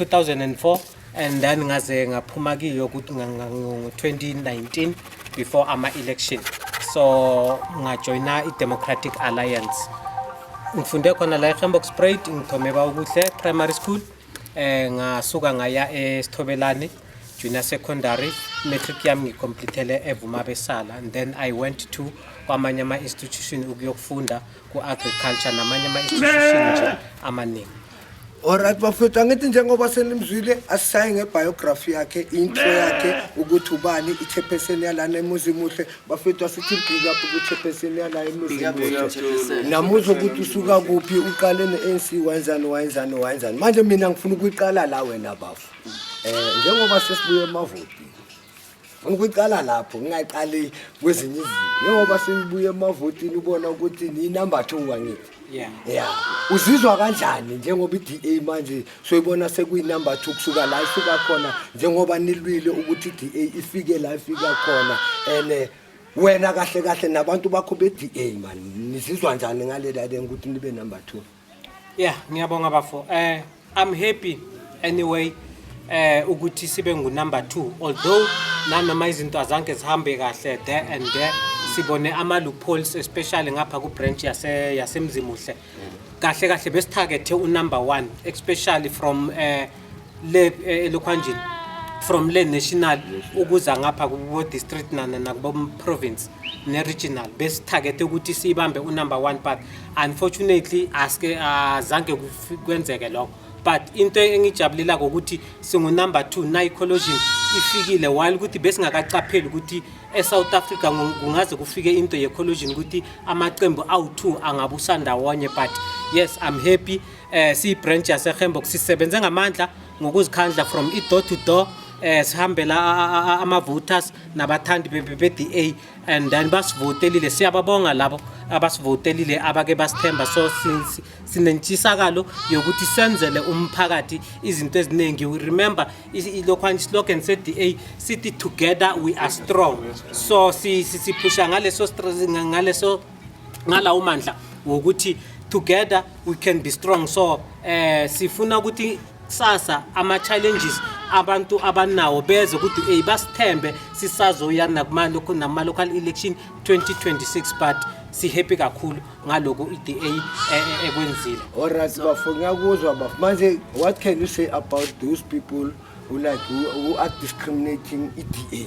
2004 and then ngaze ngaphuma kiyo ukuthi ngo-2019 before ama-election so ngajoyina i-democratic alliance ngifunde khona la ehembox sprayed ngithome bawukuhle primary school um ngasuka ngaya esithobelane junior secondary matric yami ngicomplithele evuma besala and then i went to kwamanye ama-institution ukuyokufunda ku-agriculture namanye ama-institution nje amaningi Alright bafethu angithi njengoba senimzwile asisayi ngebiography yakhe intro yakhe ukuthi ubani ichairperson yalana emuzimuhle bafethu asithi big up kuchairperson yala emuzimuhle namuzwa ukuthi usuka kuphi uqale ne-anc wayenzani wayenzani wayenzani manje mina ngifuna ukuyiqala la wena bafo um njengoba sesibuye emavotini Ngifuna ukuqala lapho ngingaqali kwezinye izinto njengoba seyibuye emavotini ubona ukuthi ni-number two wangithi Yeah. ya uzizwa kanjani njengoba i-da manje soyibona sekuyi-number two kusuka la ifika khona njengoba nilwile ukuthi i-da ifike la ifika khona and eh, wena kahle kahle nabantu bakho be-da mani nizizwa njani ngalelalen ukuthi nibe number two Yeah, ngiyabonga bafo. Eh I'm happy anyway eh ukuthi sibe ngu number 2 although nanoma izinto azange zihambe kahle there and there sibone ama loopholes especially ngapha ku branch yase yasemzimuhle kahle kahle besithagethe u number 1 especially from eh le eh, elokhwanjini from le national ukuza ngapha kubo district nana nakubo province ne regional besithagethe ukuthi siyibambe u number 1 but unfortunately aske azange kufi- kwenzeke lokho but into engijabulela ukuthi singu number 2 na ecologion ifikile while ukuthi besingakaqapheli ukuthi eSouth Africa ngu- kungaze kufike into ye ecologion ukuthi amaqembu awu2 angabusandawonye but yes i'm happy eh siyibranch yaseHembox sisebenze ngamandla ngokuzikhandla from i-door to door eh sihambela ama-voters nabathandi be-DA and then basivotelile siyababonga labo abasivotelile abake basithemba so sinentshisakalo yokuthi senzele umphakathi izinto eziningi we remember ilokhwana islogan se-DA sithi together we are strong so siphusha ngaleso ngaleso ngalawo mandla wokuthi together we can be strong so eh sifuna ukuthi kusasa ama challenges abantu abanawo beze ukuthi hey basithembe sisazoya nakumalo kunama local election 2026 but si happy kakhulu ngaloku iDA e, e, ekwenzile alright bafuna kuzwa bafuna manje what can you say about those people ulike u-are discriminating i-da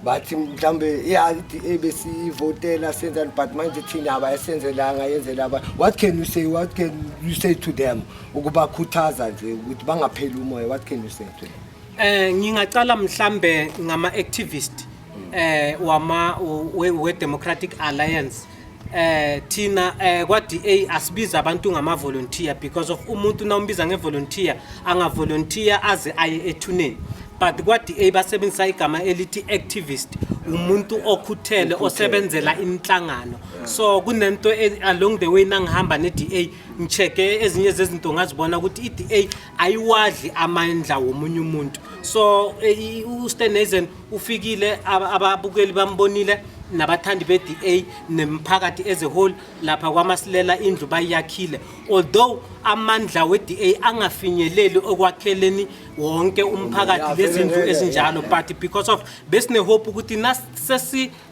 bathi mhlawumbe ya i-da besiyivotela senzani but manje thina abayasenzelanga yenzela aba what can you say what can you say to them ukubakhuthaza nje ukuthi bangapheli umoya what can you say to them Eh ngingaqala mhlambe ngama activist eh wama we, we Democratic Alliance eh thina eh kwa DA asibiza abantu ngama volunteer because of umuntu na umbiza nge volunteer anga volunteer aze aye ethuneni but kwa DA basebenzisa igama elithi activist umuntu okhuthele osebenzela inhlangano so kunento e- along the way nangihamba ne DA ngicheke ezinye zezinto ngazibona ukuthi i DA ayiwadli amandla womunye umuntu so eh, ustenazen ufikile ababukeli bambonile nabathandi be-da nemphakathi as a whole lapha kwamasilela indlu bayiyakhile although amandla we-da angafinyeleli okwakheleni wonke umphakathi lezindlu ezinjalo but because of besinehope ukuthi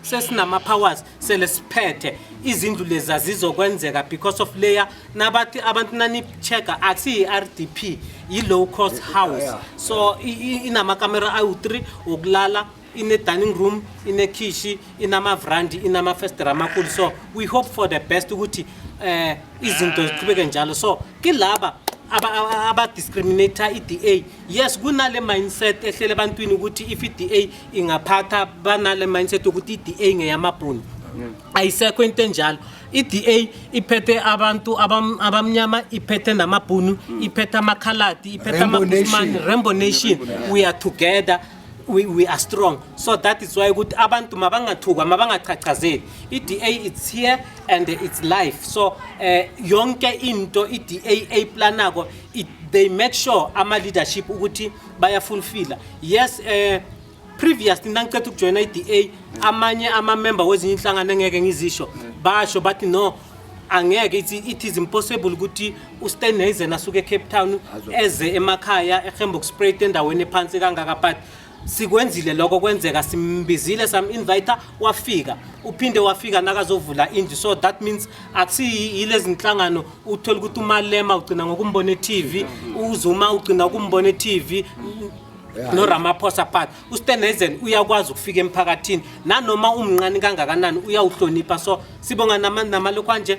sesinama powers sele siphethe izindlu lezi azizokwenzeka because of layer nabathi abantu nanichecka akusiyi-rdp yi-low cost house so i- i- inamakamera awu-3 wokulala ine-dining room inekhishi inamavrandi inamafestera amakhulu so we hope for the best ukuthi um izinto ziqhubeke njalo so kilaba abadiscriminata i-da yes kunale mindset ehlela ebantwini ukuthi if i-da ingaphatha banale mindset yokuthi i-da ngeyamabhunu ayisekho into enjalo i-da iphethe abantu abamnyama iphethe namabhunu iphethe amakhaladi iphethe amabusmani rainbow nation we are together we, we are strong so that is why ukuthi abantu mabangathukwa mabangachachazeli i-da it's here and it's life so eh, yonke into i-da ayiplanako it, they make sure ama-leadership ukuthi bayafulfila yes eh, previous nangicetha ukujoyina i-da amanye amamemba wezinye inhlangano engeke ngizisho basho bathi no angeke it, it is impossible ukuthi uSteinhazen asuke eCape Town eze emakhaya eGemboksprate endaweni ephansi kangaka but sikwenzile lokho kwenzeka simbizile sam inviter wafika uphinde wafika nakazovula indlu so that means akusiyilezi nhlangano uthola ukuthi umalema ugcina ngokumbona e-tv uzuma ugcina ukumbona e-tv noramaphosa part ustenhazen uyakwazi ukufika emphakathini nanoma umnqani kangakanani uyawuhlonipha so sibonga namalokhwanje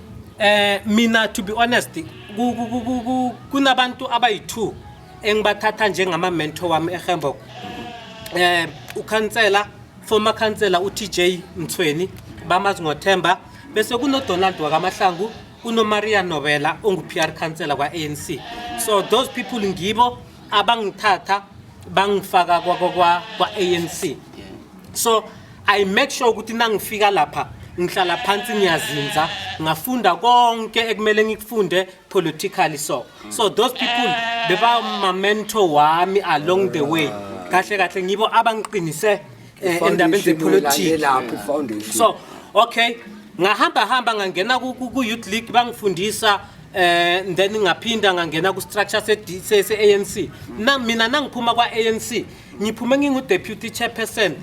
Eh mina to be honest kunabantu abayi-2 engibathatha njengama mentor wami eHemburg. Eh ukhansela former khansela uTJ Mthweni bamazi ngoThemba bese kunoDonald wakaMahlangu unoMaria Nobela ongu-PR khansela kwa-ANC. So those people ngibo abangithatha bangifaka kwa-ANC. so i make sure ukuthi nangifika lapha ngihlala phansi ngiyazinza ngafunda konke ekumele ngikufunde politically so so those people beba ma mentor wami along the way kahle kahle ngibo abangiqinise eh, endabeni zepolitiki lapho foundation so okay ngahamba hamba ngangena ku ku- ku youth league bangifundisa eh then ngaphinda ngangena ku structure se se ANC na mina nangiphuma kwa ANC ngiphume ngingu-deputy chairperson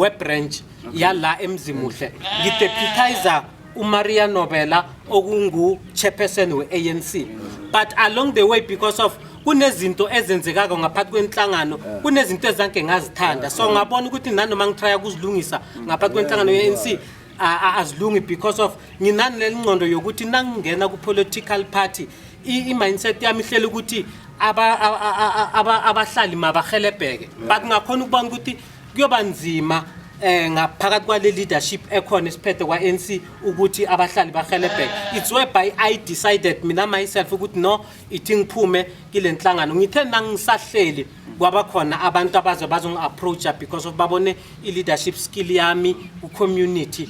webranch yala emzimuhle ngideputizer umaria nobela okungu-chairperson we-anc but along the way because of kunezinto ezenzekako ngaphathi kwenhlangano eh. kunezinto ezange ngazithanda so eh. ngabona ukuthi nanoma ngitraya kuzilungisa ngaphathi kwenhlangano ye-anc a- a- azilungi because of nginani lelingqondo yokuthi nangingena ku-political party i- i-mindset yami ihlela ukuthi aba- a- a- a- a- aba- abahlali mabahelebheke but ngakhona ukubona ukuthi kuyoba nzima um ngaphakathi kwale leadership ekhona esiphethe kwa-n c ukuthi abahlali bahelebheke it's whereby i decided mina myself ukuthi no ithi ngiphume kile nhlangano ngithe nangisahleli kwaba khona abantu abaze bazongi-approacha because of babone i-leadership skill yami ku-community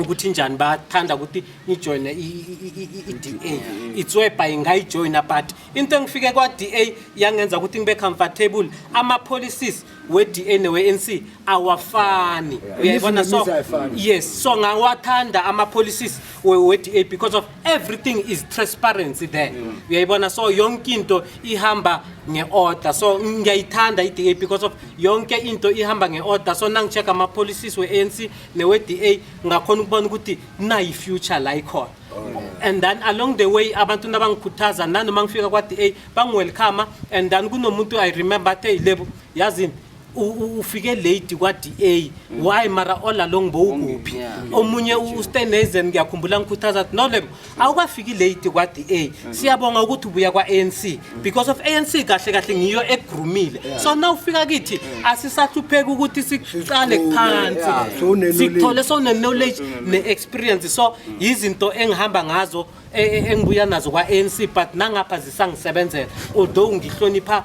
ukuthi njani bathanda ukuthi ngijoyine i-da itswebha ingayijoyina but into engifike kwa-da yangenza ukuthi ngibe comfortable ama-policies we-da newe-nc awafani uyayibona so yes so ngawathanda ama-policies we-da because of everything is transparency there mm. uyayibona so yonke into ihamba nge-order so ngiyayithanda i-da because of yonke into ihamba nge-order so nangi-check ama-policies we-anc newe-da ngakhona ukubona ukuthi nayi-future la ikhona oh. and then along the way abantu nabangikhuthaza nanoma ngifika kwa-da bangiwelcome and then kunomuntu i remember athe yilebo yazini ufike late kwa-da why mara all along bowukuphi omunye ustenazen ngiyakhumbula ngikhuthaza no lebo awukafiki late kwa-da siyabonga ukuthi ubuya kwa-anc because of anc kahle kahle ngiyo egrumile so na ufika kithi asisahlupheki ukuthi siqale phansi sithole sowune-knowledge ne-experience so yizinto engihamba ngazo e, e, engibuya nazo kwa-anc but nangapha zisangisebenzela although ngihlonipha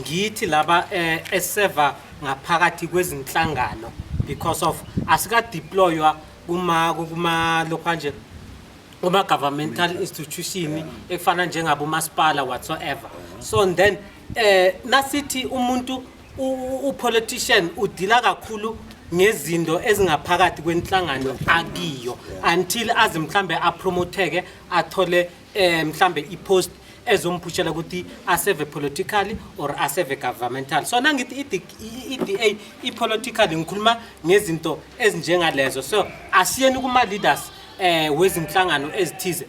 ngithi laba eh, eseva ngaphakathi kwezinhlangano because of asikadeploywa kuma kuma lokho nje kuma governmental institution ekufana njengabo masipala whatsoever so and then eh nasithi umuntu u- u politician udila kakhulu ngezinto ezingaphakathi kwenhlangano akiyo until aze mhlambe apromotheke athole eh mhlambe ipost ezomphushela ukuthi aseve politically or aseve governmental so nangithi i-DA i-political ngikhuluma ngezinto ezinjengalezo so asiyeni kuma-leaders eh wezinhlangano ezithize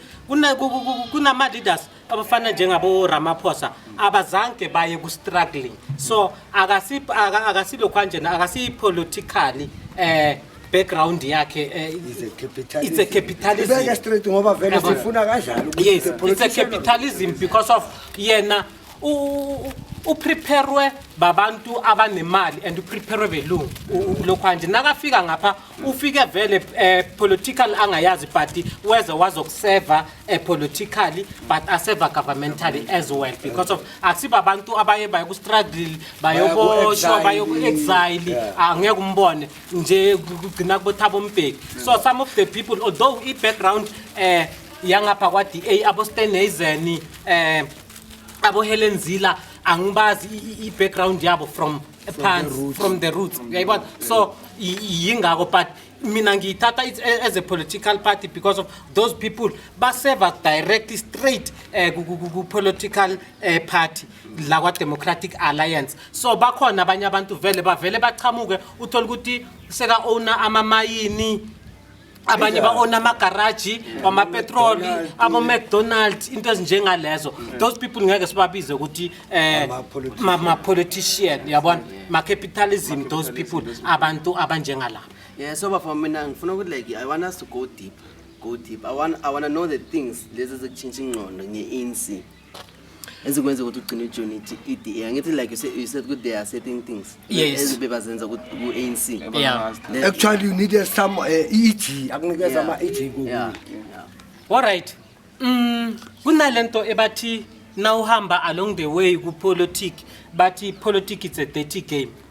kunama leaders abafana njengabo Ramaphosa abazange baye ku struggling so akasi akasilo kwanjena akasi politically eh background yakhe eh, It's a capitalism. It's a capitalism. Ibeke straight ngoba vele Yabo. sifuna kanjalo ukuthi yes the it's a politician of- capitalism because of yena u- u- upreparwe babantu abanemali and upreparwe belungu u- u- lokhwanje nakafika ngapha ufike vele eh, political angayazi but weze wazokuseva eh, politically but aseva governmentally as well because of akusiba abantu abaye bayokustruggle bayoboshwa Bayoku-exile. bayoku-exile Yeah. angeke umbone nje kugcina kubothaba umbheki so some of the people although i-background eh yangapha kwa-DA aboSteneisen eh aboHelen Zila angibazi i- i- i-background yabo from phansi from the roots uyayibona so i- i- yingako but mina ngiyithatha it- a- as a political party because of those people baseva directly straight um ku-political um party la kwa-democratic alliance so bakhona abanye abantu vele bavele bachamuke uthole ukuthi seka-owna amamayini abanye ba-ona amagaraji wamapetroli abo-mcdonald into ezinjengalezo those people ngeke sibabize ukuthi um ma-politician yabona ma-capitalism those people abantu abanjengalaba Yeah, so bafo mina ngifuna ukuthi like I want us to go deep. Go deep. I want I want to know the things lezi ezikutshintsha ingqondo nge-ANC. ezikwenza ukuthi ugcine ujoin i-da angithi like you said, you said ukuthi there are certain things Yes. ezibebazenza ku-anc Yeah. actually you need a some uh, eg akunikeza ama eg yeah, kokunye yeah. Alright. Mm kunalento ebathi nawuhamba along the way ku politic bathi politics it's a dirty game.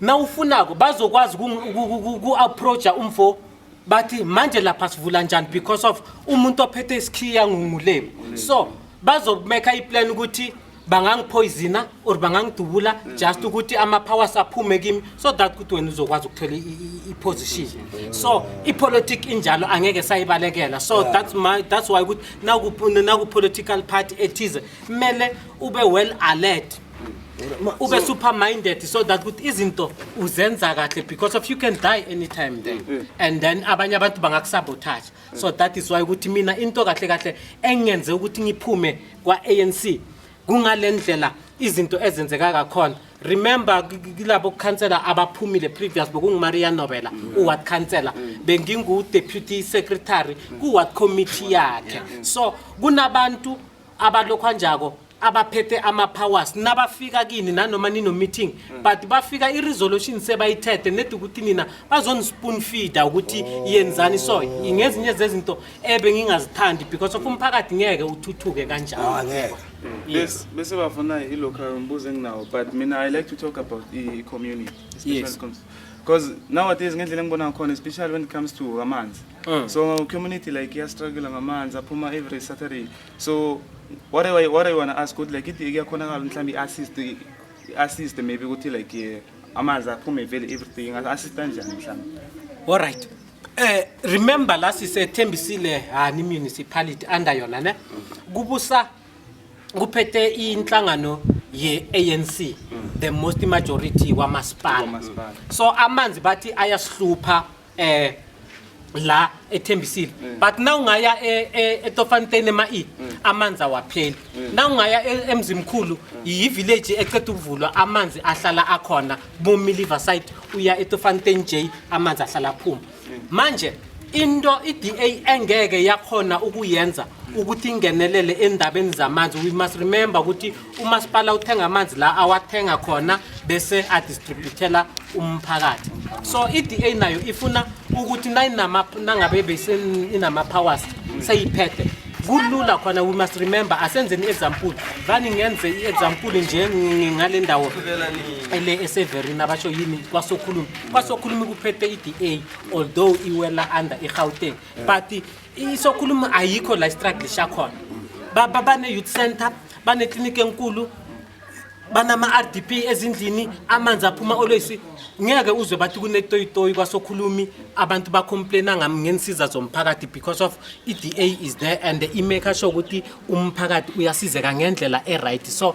nawufunako bazokwazi uku-approacha umfo bathi manje lapha sivula njani because of umuntu ophethe isikhiya ngungulemi so bazomeka iplan ukuthi bangangiphoyizina or bangangidubula just ukuthi ama-powers aphume kimi so that ukuthi wena uzokwazi ukuthola i-position so ipolitic injalo angeke sayibalekela so that's, my, that's why ukuthi naku-political party ethize kumele ube well alert ube super minded so that ukuthi izinto uzenza kahle because of you can die anytime then mm, mm. and then abanye abantu bangakusabotage so that is why ukuthi mina into kahle kahle engenze ukuthi ngiphume kwa-anc kungale ndlela izinto ezenzeka kakhona remember kilabo khansela abaphumile previous bekungumaria nobela mm. uward khansela mm. bengingu-deputy secretary kuward committee yakhe so kunabantu abalokhwanjako abaphethe ama-powers nabafika kini nanoma nino-meeting mm. but bafika i-resolution sebayithethe nedi ukuthi nina bazoni-spoon feeder ukuthi oh. yenzani so ngezinye zezinto ebe ngingazithandi because of umphakathi ngeke uthuthuke kanjalo ah, Yes. Bese bafuna ilokhu umbuzo enginawo but mina I like to talk about i-community. Yes. Because nowadays ngendlela engibona ngakhona especially when it comes to amanzi. Mm. So community like ya struggle ngamanzi aphuma every Saturday. So what I what I want to ask good like it iyakhonakala mhlambi assist assist maybe ukuthi like eh, amanzi aphume vele everything assist kanjani mhlambi. All right. Eh remember la sisethembisile hani municipality under yona ne kubusa kuphethe inhlangano ye ANC mm. the most majority wamasipala so amanzi bathi ayasihlupha eh la ethembisile mm. but na ungaya e, e, etofanteni ema-e mm. amanzi awapheli mm. na ungaya e, emzimkhulu yi-village eceda ukuvulwa amanzi ahlala akhona bomiliver side uya etofanteni j amanzi ahlala aphuma manje into i-da engeke yakhona ukuyenza ukuthi ingenelele endabeni zamanzi we must remember ukuthi umasipala uthenga amanzi la awathenga khona bese adistributela umphakathi so i-da nayo ifuna ukuthi nangabe inama-powers seyiphethe kulula khona we must remember asenzeni i-example vani ngenze i-example nje ngale ndawo ele eseverina abasho yini kwasokhulumi kwasokhulumi kuphethe i-da although iwela under i-gauteng but yeah. isokhuluma ayikho la istruggle shakhona baba bane-youth center banekliniki enkulu banama-r d p ezindlini amanzi aphuma olwesi ngeke uzwe bathi kunetoyitoyi kwasokhulumi abantu bacomplaina ngami ngenisiza zomphakathi because of i-d a is there and imake asho ukuthi umphakathi uyasizeka ngendlela e-right so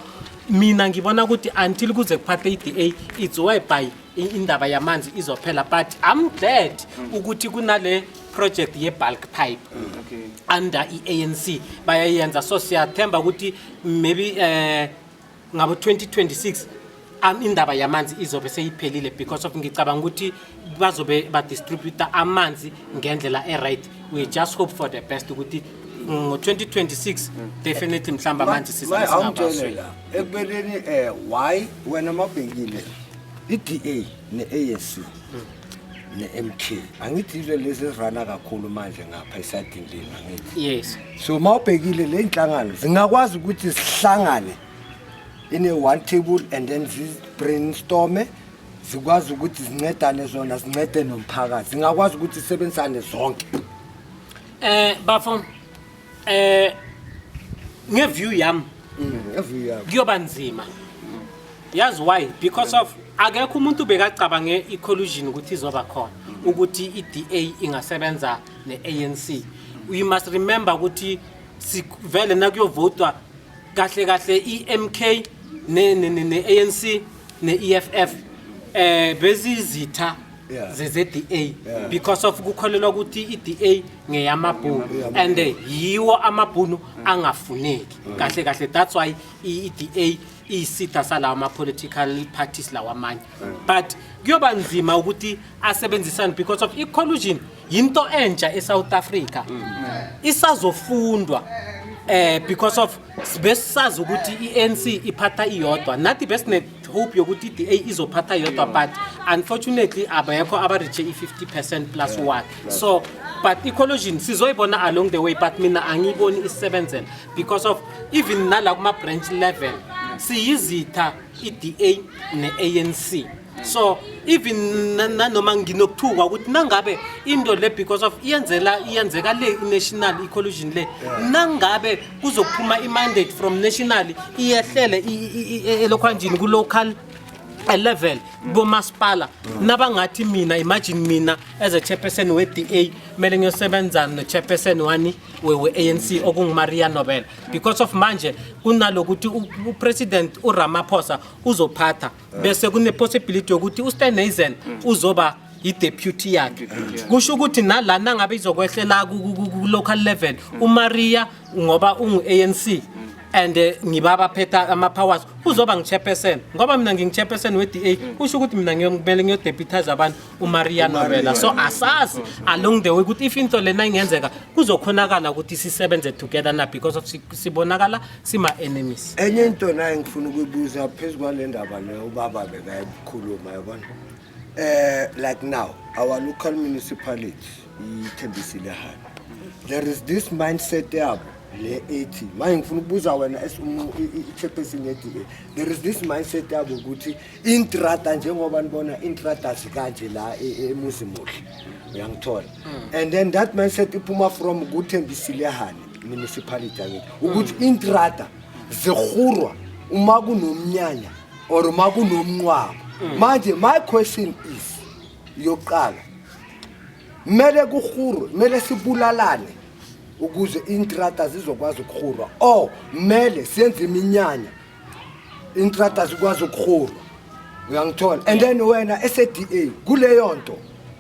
mina ngibona ukuthi until kuze kuphathe i-d a it's whereby I- indaba yamanzi izophela but i'm glad ukuthi kunale project ye-bulk pipe Okay. under i-anc bayayenza so siyathemba ukuthi maybe eh ngabo 2026 am- indaba yamanzi izobe seyiphelile because of ngicabanga ukuthi bazobe badistributa amanzi ngendlela e-right we just hope for the best ukuthi ngo-2026 definitely mhlawumbe amanzi sizasingabaswe awungitshele la ekubeleni um why wena mabhekile I-DA ne-ANC ne-MK angithi yizo lezi ezirana kakhulu manje ngapha esadini leni angithi yes so uma ubhekile le nhlangano zingakwazi ukuthi zihlangane in a one table and then zi-brainstorme zikwazi ukuthi zincedane zona zincede nomphakathi zingakwazi ukuthi zisebenzisane zonke Eh bafo Eh ngeview yami Every year. kuyoba nzima. Yazi why? Because of akekho umuntu bekacabange i-collusion ukuthi izoba khona ukuthi i-DA ingasebenza ne-ANC. We must remember ukuthi sivele nakuyovotwa kahle kahle i-MK ne- ne- ne- ne-ANC ne-EFF eh bezizitha Yeah. zeze-da Yeah. because of kukholelwa ukuthi i-da ngeyamabhunu and eh, yiwo amabhunu angafuneki kahle kahle that's why i- i-da iyisitha salawo ama-political parties lawa amanye but kuyoba nzima ukuthi asebenzisane because of i-collusion yinto entsha e-south africa isazofundwa eh because of besisazi ukuthi i-ANC iphatha iyodwa nathi besine hope yokuthi i-da izophatha yodwa but unfortunately abekho abareache i-50 percent plus one so but i-collusion sizoyibona along the way but mina angiyiboni isisebenzela because of even nala kuma-branch level siyizitha i-da ne-anc so even na- nanoma nginokuthukwa ukuthi nangabe into le because of iyenzela iyenzeka le i-national i-collusion le nangabe kuzophuma i-mandate from national iyehlele elokhwanjini ku-local level komasipala nabangathi mina imagine mina as a chairperson we-da kumele ngiyosebenzana no-chairperson wani we-anc okungumaria nobel because of manje kunalokuthi upresident uramaphosa uzophatha bese kune possibility yokuthi uSteneisen uzoba i-deputy yakhe kusho ukuthi nalana ngabe izokwehlela ku- ku- ku- ku-local level umaria ngoba ungu-anc and eh, ngiba baphetha ama-powers uzoba ngichairperson ngoba mina ngingichairperson we-da kusho ukuthi mina ngiyo- kumele ngiyodeputize abantu umaria nobela so asazi along the way ukuthi if into lena ingenzeka kuzokhonakala ukuthi sisebenze together na because of si- sibonakala sima enemies enye into naye ngifuna ukuyibuza phezulu kwale ndaba le ubaba bekayikhuluma yabona eh like now our local municipality ithembisile hana there is this mindset yabo le ethi manje ngifuna ukubuza wena as umu- i- i- i-chairperson ye-DA there is this mindset yabo ukuthi intrada njengoba nibona intrada sikanje la e, e, emuzi muhle uyangithola hmm. and then that mindset iphuma from kuthembisilehane municipality yakithi ukuthi hmm. intrada zirhurwa uma kunomnyanya or uma kunomnqwabo hmm. manje my question is yokuqala kumele kurhurwe kumele sibulalane ukuze intrada zizokwazi ukuhurwa or kumele senze iminyanya intrata zikwazi ukuhurwa uyangithola and then wena ese-da kuleyo nto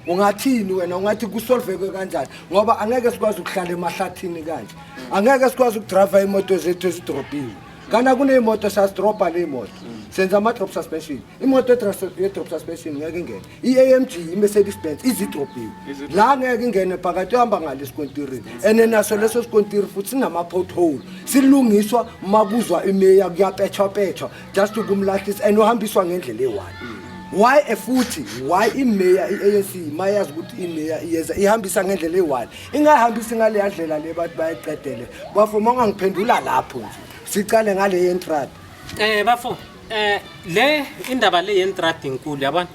ungathini wena ungathi kusolveke kanjani ngoba angeke sikwazi ukuhlala emahlathini kanje angeke sikwazi ukudrayiva iy'moto zethu ezidrobhiwe kana kuney'moto siyazidrobha ley'moto senza ama-drop suspension imoto ye-drop suspension ngeke ingene i-amg i-mercedes benz izidrobhiwe la ngeke ingene phakathi uhamba ngale sikontirini and naso leso sikontiri futhi sinama-pothole silungiswa uma kuzwa imeya kuyapetshwapetshwa just ukumlahlisa and uhambiswa ngendlela eyi-one why efuthi why imeya i-anc uma yazi ukuthi imeya iyeza ihambisa ngendlela eyi-one ingayihambisi ngaleya ndlela le bantu bayiqedele bafo uma ungangiphendula lapho nje sicale ngale yentrada um bafo Eh le indaba le yentrad inkulu yabona.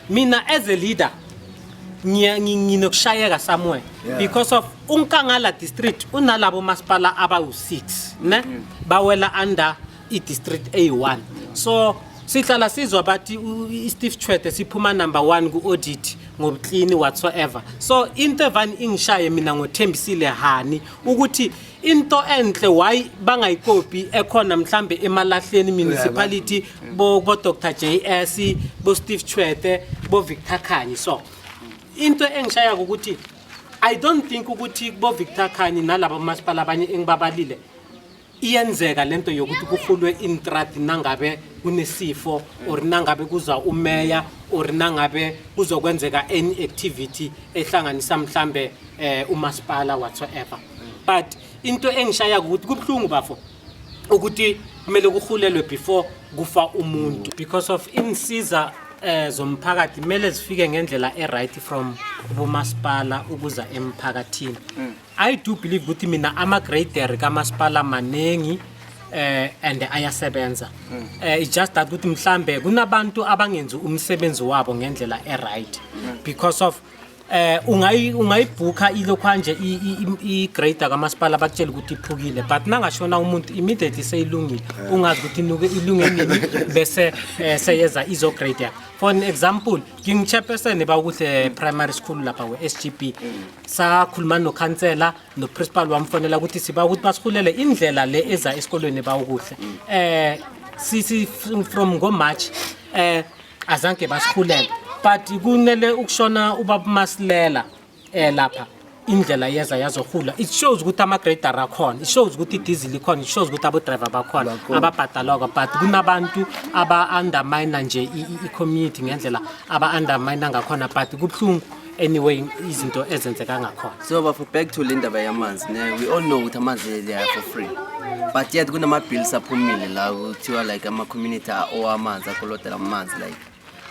Mina as a leader ngiya- ngi- nginokushayeka somewhere Yeah. because of uNkangala district unalabo masipala abawu6 ne bawela under i district A1 so sihlala sizwa bathi u- i- Steve Chwete siphuma number 1 ku audit ngobuclean whatsoever so into evani ingishaye mina ngothembisile hani ukuthi into enhle why bangayikopi ekhona mhlambe emalahleni municipality bo bo Dr JS bo Steve Chwete bo Victor Khanyi so into engishaya ukuthi i don't think ukuthi bo Victor Khanyi nalabo masipala abanye engibabalile iyenzeka lento yokuthi kuhulwe intrati nangabe kunesifo or nangabe kuza umeya or nangabe kuzokwenzeka any activity ehlanganisa mhlambe eh umasipala whatsoever but into engishaya ukuthi kubuhlungu bafo ukuthi kumele kuhulelwe before kufa umuntu because of insiza eh zomphakathi kumele zifike ngendlela eright from ubumasipala ukuza emphakathini mm. i do believe ukuthi mina ama grader kamasipala maningi eh and ayasebenza mm. eh it's just that ukuthi mhlambe kunabantu abangenzi umsebenzi wabo ngendlela eright mm. because of eh ungayi ungayibhukha ilokhanje igrader kamasipala bakutshela ukuthi iphukile but nangashona umuntu immediately seyilungile eh. ungazi ukuthi inuke ilunge nini bese eh, seyeza izograder for an example ngingichairperson ba ukuthi eh, primary school lapha we-sgb sakhuluma nokhansela noprincipal wamfonela ukuthi siba ukuthi basihulele indlela le eza esikolweni ba ukuhle um sisi from ngomarch um azange basikhulele but kunele ukushona ubaba masilela eh lapha indlela yeza yazohula it shows ukuthi ama-grader akhona it shows ukuthi idizili ikhona it shows ukuthi abodriver bakhona ababhadalwako but kunabantu aba-undermina nje i-community ngendlela aba-undermina ngakhona but kubuhlungu anyway izinto ezenzeka ngakhona so bafo back to le ndaba yamanzi ne we all know ukuthi amanzi leya for free but yet kunama-bills aphumile la kuthiwa like ama-community owamanzi akolodela amanzi like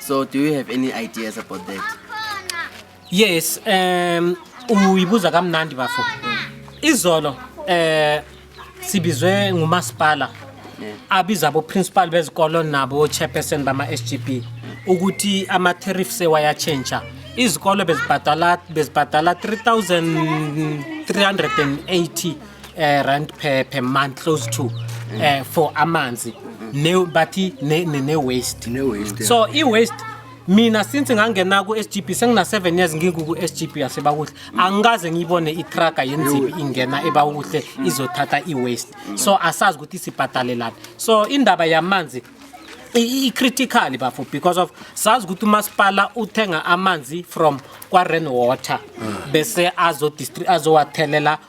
so do you have any ideas about that yes um uyibuza kamnandi bafo izolo um sibizwe ngumasipala abiza aboprincipal bezikolo nabo chairperson bama-sgb ukuthi ama-tariff sewayatshentsha izikolo bezibhadala bezibhadala 3380 eh, rand per, per month close to eh, for amanzi ne, bathi ne, ne, ne waste Ne-waste, yeah. so i-waste mina since ngangena ku-sgb sengina-7 years ngikuku-sgb yasebakuhle angikaze ngiyibone itraga yenzibi ingena ebakuhle izothatha i-waste so asazi ukuthi sibhadalelani so indaba yamanzi i-critical bafo because of sazi ukuthi umasipala uthenga amanzi from kwa-ren water bese azowathelela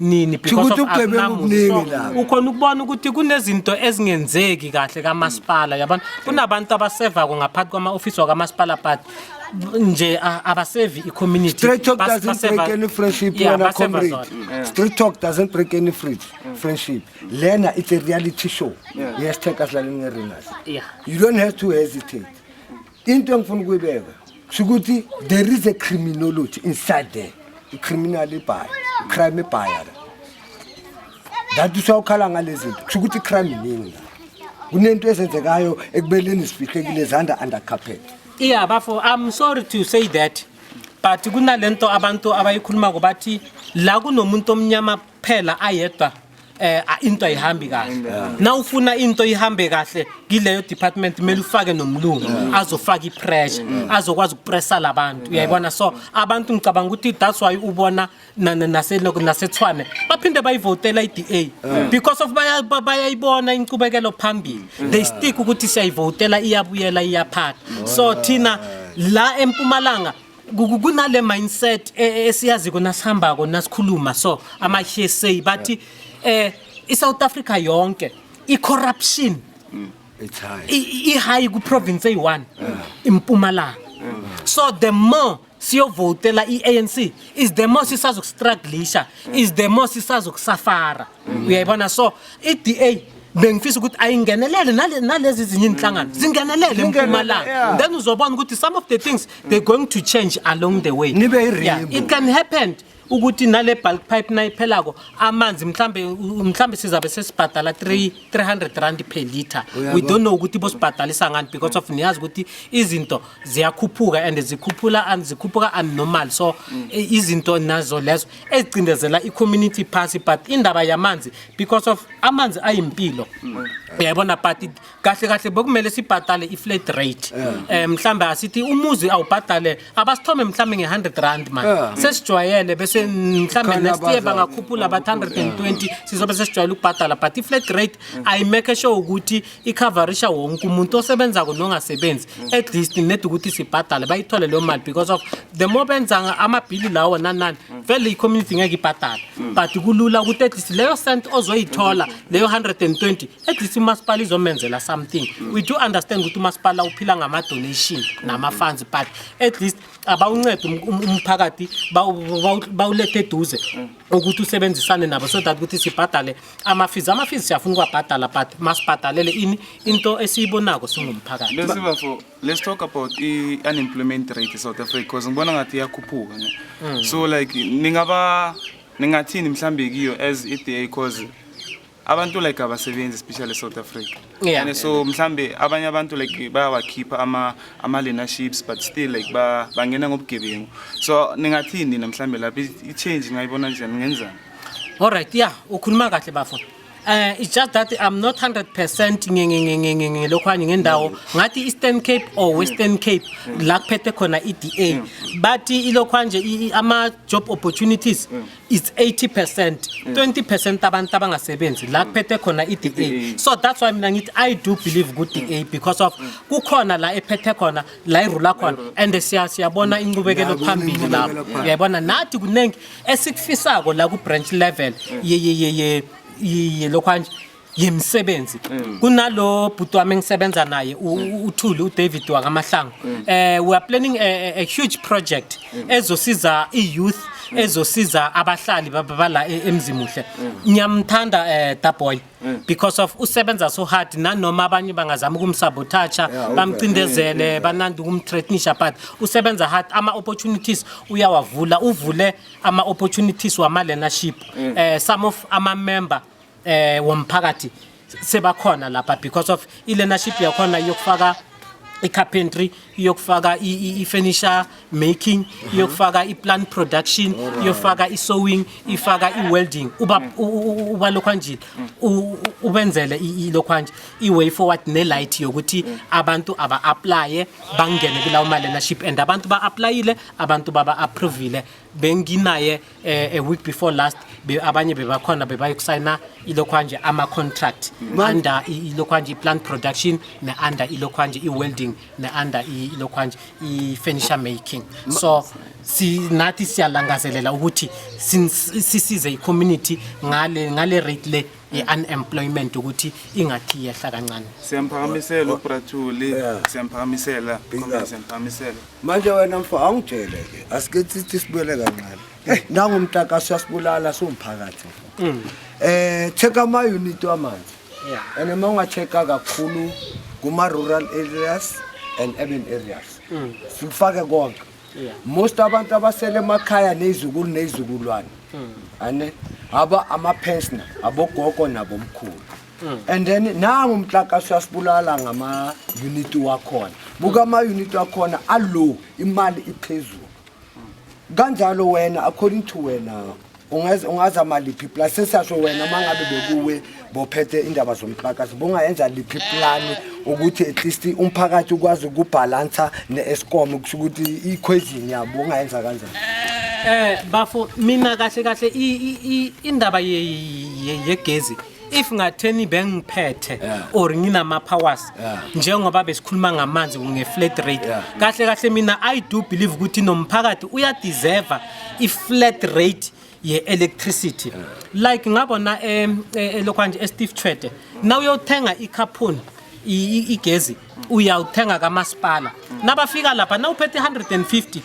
nini because of ukhona ukubona ukuthi kunezinto ezingenzeki kahle kamasipala yabona kunabantu abasevako ngaphansi kwama-ofisi wakamasipala but nje abasevi i-community Straight talk Bas- doesn't baseva- break any friendship Yeah, wena baseva comrade. zona. Straight talk doesn't break any free friendship. Lena it's a reality show. Yes, take us laling arenas. Yeah. You don't have to hesitate. into engifuna ukuyibeka kusho ukuthi there is a criminology inside there i-criminal ibhaya i-crime ibhaya la that usawukhala ngale zinto kusho ukuthi i-crime iningi la kunento ezenzekayo ekubeleni sifihlekile zanda under carpet iya bafo i'm sorry to say that but kunale nto abantu abayikhulumako bathi la kunomuntu omnyama kuphela ayedwa eh a- into ayihambi kahle na ufuna into ihambe kahle kileyo department kumele ufake nomlungu azofaka ipressure azokwazi ukupressa labantu uyayibona so abantu ngicabanga ukuthi that's why ubona na- na- nase loko- nasethwane baphinde bayivotela iDA because of baya- ba- bayayibona inqubekelo phambili they stick ukuthi siyayivotela iyabuyela iyaphatha so thina la empumalanga Ku- kunale mindset e- e- esiyaziko nasihambako nasikhuluma so ama-hsa bathi eh i-south africa yonke i-corruption It's high. i- i- i-high kuprovince eyi-one impumalanga so the more siyovotela i-anc is the more sisazokustruglisha is the more sisazokusafara uyayibona so i-da bengifisa ukuthi ayingenelele nale- nalezi zinye inhlangano zingenelele Zingenele, empumalanga yeah. then uzobona ukuthi some of the things they're going to change along the way Nibe i-rainbow. Yeah, it can happen ukuthi nale bulk pipe nayiphelako amanzi mhlambe u- mhlambe sizabe sesibhadala 3 300 rand per liter we don't know ukuthi bosibhadalisa ngani because of niyazi ukuthi izinto ziyakhuphuka and zikhuphula and zikhuphuka unnormal so i- izinto nazo lezo ezicindezela i-community party but indaba yamanzi because of amanzi ayimpilo uyayibona but it- kahle kahle bekumele sibhadale i-flat rate um mhlawumbe asithi umuzi awubhadale abasithome mhlawumbe nge-100 rand mani Yeah. sesijwayele bese mhlawumbe Khona next year abaza- bangakhuphula but 120 sizobe sesijwayele ukubhadala but i-flat rate ayimeke sure ukuthi ikhavarisha wonke umuntu osebenzako nongasebenzi at least ned ukuthi sibhadale bayithole leyo mali because of the more benza amabhili lawo nanani vele i-community ngeke ibhadale but kulula ukuthi at least leyo cent ozoyithola leyo 120 at least umasipala izomenzela something we do understand ukuthi umasipala uphila ngama-donation nama-funds but at least abawuncede um- um- umphakathi bawu- bawu- bawulethe eduze ukuthi usebenzisane nabo so that ukuthi sibhadale amafizi amafizi siyafuna ukwabhadala but masibhadalele ini into esiyibonako singumphakathi lesibafo let's talk about i-unemployment rate e-south africa because ngibona ngathi iyakhuphuka ne mm. so like ningaba ningathini mhlawumbe kiyo as i-da because abantu like abasebenzi especially south africa yeah. and so mhlambe abanye abantu like bayawakhipha ama ama-learnerships but still like bangena ngobugebengu so ningathini nina mhlambe lapho i-change ngayibona njani ngenzani All right, yeah, ukhuluma kahle bafo. Uh, it's just that I'm not 100% ngelokhwani ngendawo ngathi Eastern Cape or Western Cape la kuphethe khona iDA but ilokhwa nje ama job opportunities it's 80% 20% abantu abangasebenzi la kuphethe khona iDA so that's why mina ngithi I do believe ku DA because of kukhona la ephethe khona la irula khona and siya siyabona inqubekelo phambili lapho uyayibona nathi kuningi esikufisako la ku branch level ye ye ye ye ye lokhanje yemisebenzi kunalo bhuti wami engisebenza naye u- u- uthuli udavid wakamahlango eh we are planning a, a, a huge project ezosiza i-youth ezosiza abahlali baba bala e- emzimuhle ngiyamthanda eh daboy Mm. because of usebenza so hard nanoma abanye bangazama ukumsabotaja bamcindezele mm. banandi ukumthreatnisha but usebenza hard ama-opportunities uyawavula uvule ama-opportunities wama-learnership mm. eh, some of ama-member eh, womphakathi sebakhona lapha because of i-learnership yakhona yokufaka i-carpentry iyokufaka i-furniture making uh-huh. iyokufaka i-plant production iyofaka i-sewing ifaka i-welding uba mm. lokhwanjile ubenzele ilokhwanje i-way forward ne-light yokuthi mm. abantu aba-aplaye bangene kulawo ma-learnership and abantu ba-aplayile abantu baba-approvile benginaye eh, a week before last be, abanye bebakhona bebayokusayina ilokhwanje ama-contract under i- ilokhwanje i-plant production ne-under ilokhwanje i-welding ne-under i- ilokhwanje i-furniture making so si, nathi siyalangazelela ukuthi sin- sisize i-community ngale, ngale rate le ye-unemployment ukuthi ingathi yehla kancane Siyamphakamisela uBrathuli, siyamphakamisela, Comrade, siyamphakamisela. manje wena mfo angitshele ke asike sithi sibuyele kancane eh, nangu mtaka siyasibulala siwumphakathi mfo mm. eh check ama unit wamanzi and uma ungacheck-a kakhulu kuma-rural areas and urban areas mm. sikufake konke most abantu abasele emakhaya nezukulu nezizukulwane mm. ane aba ama-pensioner abogogo nabomkhulu Mm. and then nangu umtlakasi uyasibulala ngama-unit wakhona buka ama-unit wakhona alow imali iphezulu kanjalo wena according to wena ungaza maliphi plus sesiyasho wena uma ngabe bekuwe bophethe indaba zomtlakasi bungayenza liphi plani ukuthi at least umphakathi ukwazi ukubhalansa ne-escom kusho ukuthi ikhwezini yabo ungayenza kanjani um bafo mina kahle kahle indaba yegezi if ngatheni bengiphethe or nginama powers njengoba besikhuluma ngamanzi nge flat rate kahle kahle mina i do believe ukuthi nomphakathi uya deserve i flat rate ye electricity like ngabona eh, eh, eh lokho nje e Steve Chwede now uyothenga i carbon igezi uyawuthenga kamasipala nabafika lapha nawuphethe 150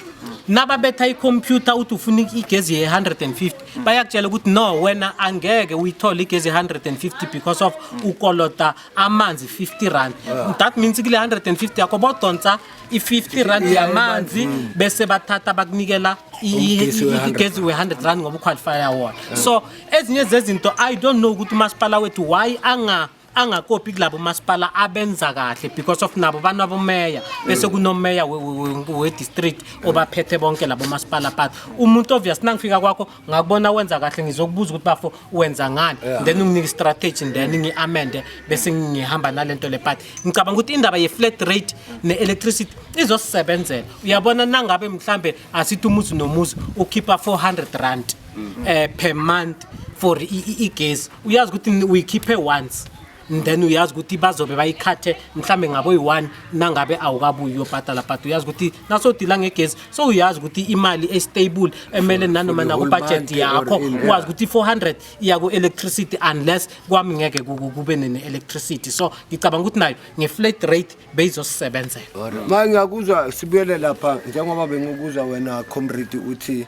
nababetha ikhompyutha uthi ufuna igezi ye-150 bayakutshela ukuthi no wena angeke uyithole igezi ye-150 because of ukolota amanzi 50 rand that means kule 150 yakho bodonsa i-50 rand yamanzi bese bathatha bakunikela Ugesi we-100 igezi we-100 rand ngoba uqualifya wona so ezinye zezinto i don't know ukuthi umasipala wethu why anga angakopi kulabo masipala abenza kahle because of nabo banabomeya bese kunomeya we- we- we- we-district obaphethe bonke labo masipala but umuntu obvious nangifika kwakho ngakubona wenza kahle ngizokubuza ukuthi bafo wenza ngani then unginike istrategy then ngi-amende bese ngihamba nale nto le but ngicabanga ukuthi indaba ye-flat rate ne-electricity izosisebenzela uyabona nangabe mhlambe asithi umuzi nomuzi ukhipha 400 rand eh per month for i- i- igesi uyazi ukuthi ni- uyikhiphe once and then uyazi ukuthi bazobe bayikhathe mhlambe ngabe uyi-one nangabe awukabuyi uyobhadala but uyazi ukuthi nasodila ngegesi so uyazi ukuthi imali estable emele nanoma for the whole nakubhajethi month yakho or in- yeah. uwazi ukuthi i-400 iya ku-electricity unless kwami ngeke ku- ku- kube ne-electricity so ngicabanga ukuthi nayo nge-flat rate beyizosisebenzela manje ngiyakuzwa sibuyele lapha njengoba bengikubuza wena comrade uthi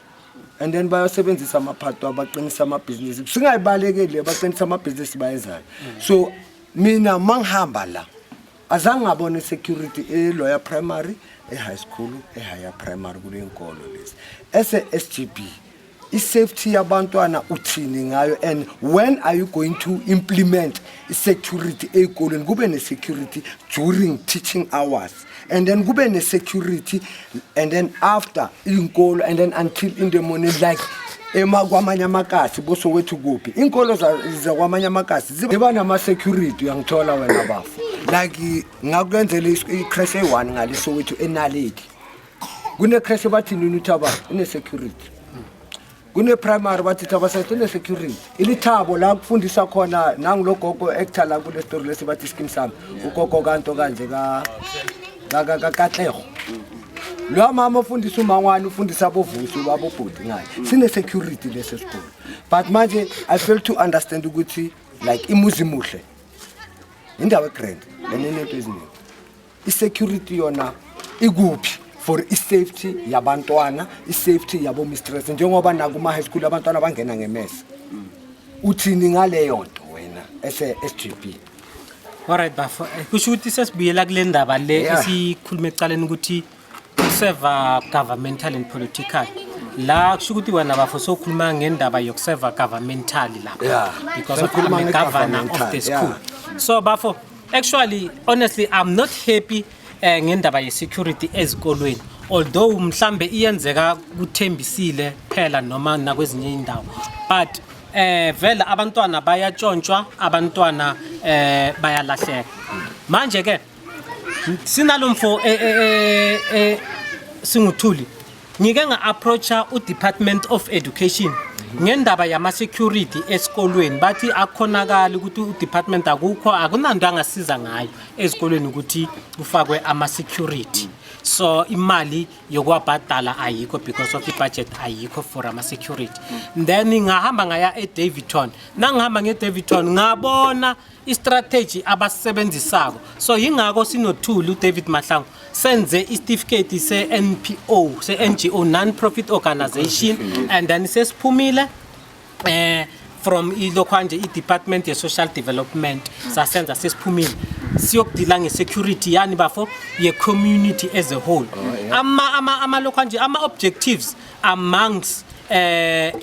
and then bayosebenzisa amaphato abaqinisa amabhizinisi singayibalekeli abaqinisa amabhizinisi bayezayo so mina mangihamba la azange ngabone security eloya primary e-high school e-higher primary kule nkolo lezi ese-s g b i-safety yabantwana uthini ngayo and when are you going to implement i-security ey'kolweni kube ne-security during teaching hours and then kube ne-security and then after iy'nkolo and then until in the morning like ema kwamanye amakasi bosowethu kuphi inkolo zakwamanye amakasi ziba nama-security uyangithola wena bafo like ngakwenzela icrash eyi-one ngale sowethu enaleki kune-crash ebathini nini uthi aba ine-security kune-primary bathi thaba sasine security ilithabo la kufundisa khona nangulo gogo actor la kule story lesi bathi skim sami ugogo kanto kanje kakatleho loya mama ofundisa umangwane ufundisa abovusi babobhodi ngayo sine-security lesi sikolo but manje i fail to understand ukuthi like imuzi muhle indawo egrand lenenento eziningi I-security yona ikuphi for i-safety yabantwana i-safety yabo mistress njengoba nakuma-high school abantwana bangena ngemese uthini ngaleyo nto wena ese-s g b Alright bafo, eh, kusho ukuthi sesibuyela kule ndaba le Yeah. esikhuluma ekuqaleni ukuthi ukuseva governmental and political. La kusho ukuthi wena bafo sokhuluma ngendaba yokuseva governmental lapha Yeah. because of Sokhuluma I'm a governor of nge-governmental, the yeah. school. So bafo Actually, honestly, I'm not happy eh, ngendaba ye-security ezikolweni although mhlambe iyenzeka kuthembisile phela noma nakwezinye indawo but eh vele abantwana bayatshontshwa abantwana eh bayalahleka manje ke sinalomfo eh, eh, eh, eh, singuthuli Ngike nga-approacha u-Department of Education ngendaba yama-security esikolweni bathi akukhonakali ukuthi u-department akukho akunanto angasiza ngayo ezikolweni ukuthi kufakwe ama-security so imali yokuwabhadala ayikho because of ibudget ayikho for ama-security then ngahamba ngaya edavidton nangihamba ngedavidton ngabona istrategy abasisebenzisako so yingakho sinothuli udavid mahlangu senze isitifiketi se-npo se-ngo non-profit organization and then sesiphumile eh from ilokhwanje i-department ye-social development sasenza sesiphumile siyokudila nge-security yani bafo ye-community as a whole amalokhwanje ama-objectives amongst um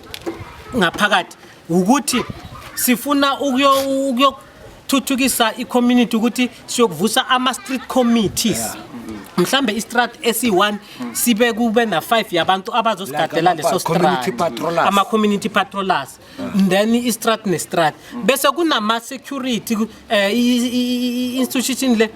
ngaphakathi wukuthi sifuna ukuyothuthukisa i-community ukuthi siyokuvusa ama-street committees yeah. mhlambe istrat esi-1 sibe kube na-5 yabantu abazosigadela leso strama-community patrollers then istrat nestrat bese kunama-security eh institution le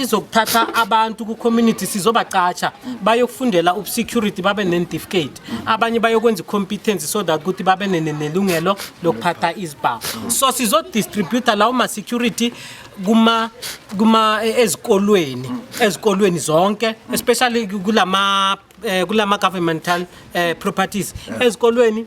izokuthatha abantu ku community sizobacatsha bayokufundela ub security babe ne certificate abanye bayokwenza competence so that ukuthi babe nelungelo lokuphatha izibhamu so sizo distribute lawo ma security kuma kuma eh, ezikolweni ezikolweni zonke especially kulama eh, kulama governmental eh, properties ezikolweni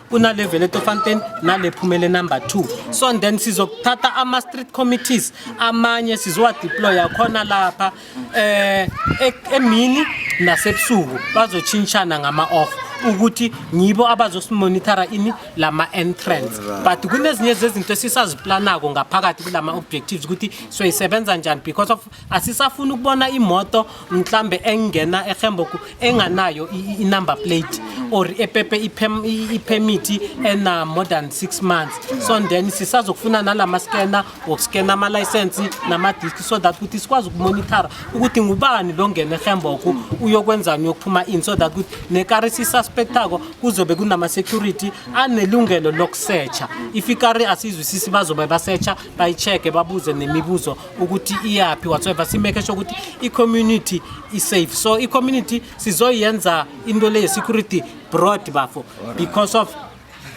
kunale vele tofanten nale phumele number 2 so and then sizokuthatha ama street committees amanye sizowa deploya khona lapha eh e- emini nasebusuku bazochintshana ngama off ukuthi ngibo abazosimonitara ini lama entrance but kunezinye zezinto esisaziplanako ngaphakathi kulama objectives ukuthi soyisebenza njani because of asisafuni ukubona imoto mhlambe engena ehemboku enganayo i-number plate or epepe i-permit ena more than 6 months so then sisazokufuna nala maskena wokuskena amalayisensi namadiski so that ukuthi sikwazi ukumonithara ukuthi ngubani lo ngena ehemboku uyokwenzani uyokuphuma ini so that ukuthi nekari sisuspektako kuzobe kunama-security anelungelo lokusetsha if ikari asizwisisi bazobe basetsha bayi-check-e babuze nemibuzo ukuthi iyaphi whatsoever simeke sho ukuthi i-community isafe so i-community sizoyenza into le ye-security broad bafo because of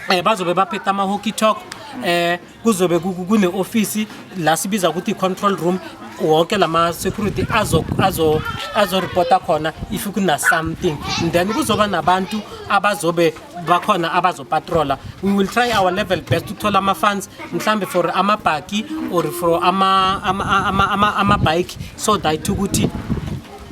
um eh, bazobe baphetha ama-hockey talk eh kuzobe kune office la sibiza ukuthi control room wonke lama security azo azo azo reporta khona if kuna something then kuzoba nabantu abazobe bakhona abazopatrola we will try our level best ukuthola ama-funds mhlawumbe for amabhaki or for amabhayiki ama, ama, ama, ama, ama so that ukuthi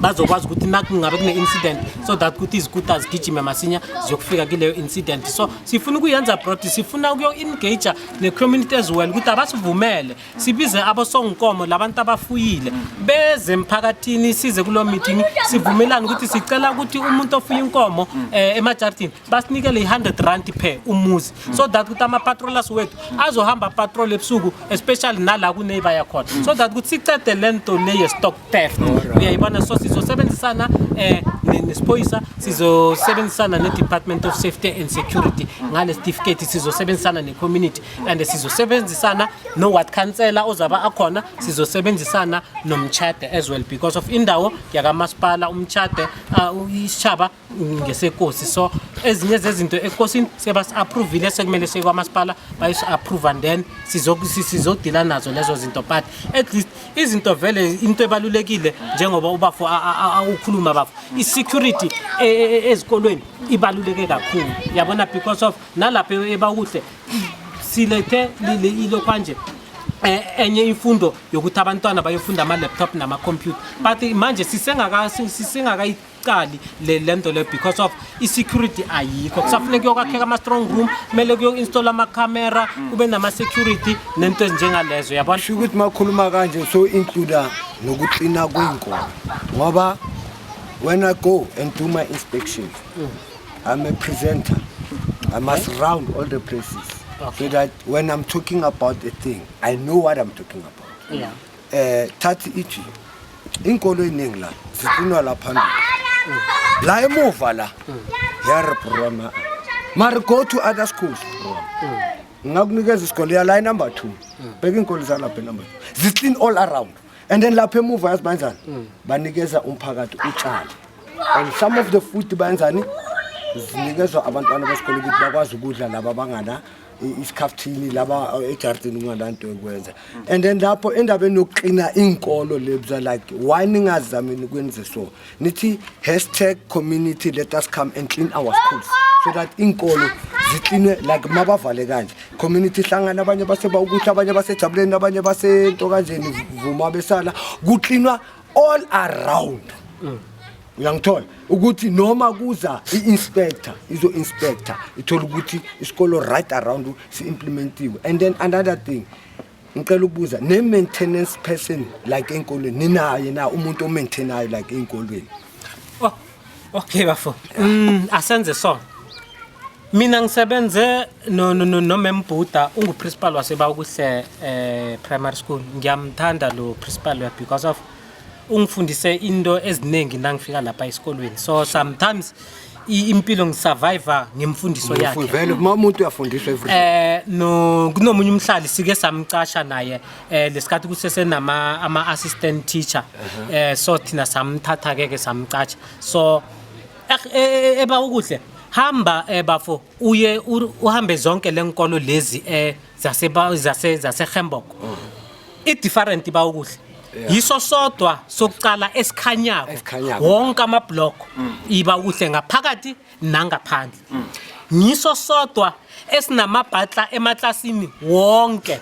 bazokwazi ukuthi nakungabe kune-incident so that ukuthi izikuta zigijime masinya ziyokufika kuleyo incident so sifuna ukuyenza brod sifuna ukuyo-engage ne-community as well ukuthi abasivumele sibize abosonginkomo labantu abafuyile beze emphakathini size kulo meeting sivumelane ukuthi sicela ukuthi umuntu ofuya inkomo eh, emajardini basinikele i-100 rand per umuzi so that ukuthi ama-patrollers wethu azohamba patrol ebusuku especially nala kuneiba yakhona so that ukuthi sicede le nto le ye-stock theft uyayibona so sizosebenzisana eh, ne- nesiphoyisa sizosebenzisana ne-department of safety and security ngale sitifiketi sizosebenzisana ne-community and sizosebenzisana no-ward councellor ozaba akhona sizosebenzisana nomtshade as well because of indawo yakamasipala umtshade uh, isishaba ngesekosi so ezinye zezinto ekosini sebasi-approvile sekumele sekwamasipala bayisi-approve and then sizodila nazo lezo zinto but at least izinto vele into ebalulekile njengoba ubafo ukhuluma bafo i-security e, e, e, ezikolweni ibaluleke kakhulu yabona because of nalapho ebakuhle silethe ilo kwanje eh, enye imfundo yokuthi abantwana bayofunda ama-laptop nama-computer but manje sisengakayi isikali le nto le because of i-security ayikho kusafuneka kuyokwakheka ama-strong room kumele kuyo-installa amacamera kube nama-security nento ezinjengalezo yabona sho ukuthi makhuluma kanje so includa nokuklina kwey'nkolo ngoba when i go and do my inspections mm. I'm a presenter. I must round all the places so that when I'm talking about a thing, I know what I'm talking about. Yeah. Eh thathi ithi inkolo eningi la zifunwa la phambili. La emuva la. Yar broma. Mari go to other schools broma. Ngakunikeza isikole ya la number 2. Bheka inkolo zalapha number 2. Ziclean all around. and then lapha emuva yazi banjani mm. banikeza umphakathi utshani and some of the food banjani zinikezwa abantwana besikole ukuthi bakwazi ukudla laba bangana isikhaftini laba uh, ejardini ungananto yokwenza and then lapho endabeni yokuqina iinkolo lebza like why ningazamini ukwenze so nithi hashtag community let us come and clean our schools so that inkolo zikline like mabavale kanje community hlangana abanye baseba ukuthi abanye basejabuleni abanye basento kanjeni vuma besala kuklinwa all around mm. uyangithola ukuthi noma kuza i-inspector izo-inspector ithola ukuthi isikolo right around si-implementiwe and then another thing ngicela ukubuza ne maintenance person like enkolweni ninaye na umuntu o maintainayo like enkolweni oh okay bafo mm asenze so mina ngisebenze no no no no membhuda ungu principal wasebakuhle eh primary school ngiyamthanda lo principal we because of ungifundise into eziningi nangifika lapha esikolweni so sometimes i- impilo ngisurvive ngemfundiso yakhe Vele uma umuntu uyafundiswa everything. eh no kunomunye umhlali sike samcasha naye eh lesikhathi kusese nama ama assistant teacher eh so thina samthatha ke ke samcasha so eh, eh, eba ukuhle hamba eh bafo uye ur- uhambe zonke lenkolo lezi eh zaseba- zase- zasehembok i-different ba ukudla yiso sodwa sokucala esikhanyako Esikhanyako. wonke amabloko iba ukuhle ngaphakathi nangaphandle ngiso sodwa esinamabhatla emaklasini wonke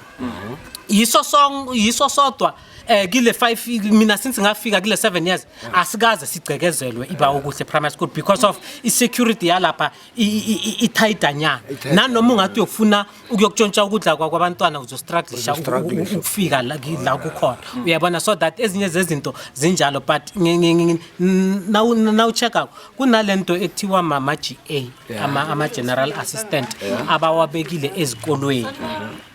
yiso song- yiso sodwa eh kile 5 mina since ngafika kile 7 years asikaze sigcekezelwe iba ukuhle primary school because of i security yalapha ithayidanyana nanoma ungathi uyofuna ukuyokutshontsha ukudla kwakwabantwana uzostruglisha ukufika la kukhona hmm. uyabona so that ezinye zezinto zinjalo but nawucheck-ako kunale nto ekuthiwa mama-g a ama-general assistant abawabekile ezikolweni hmm.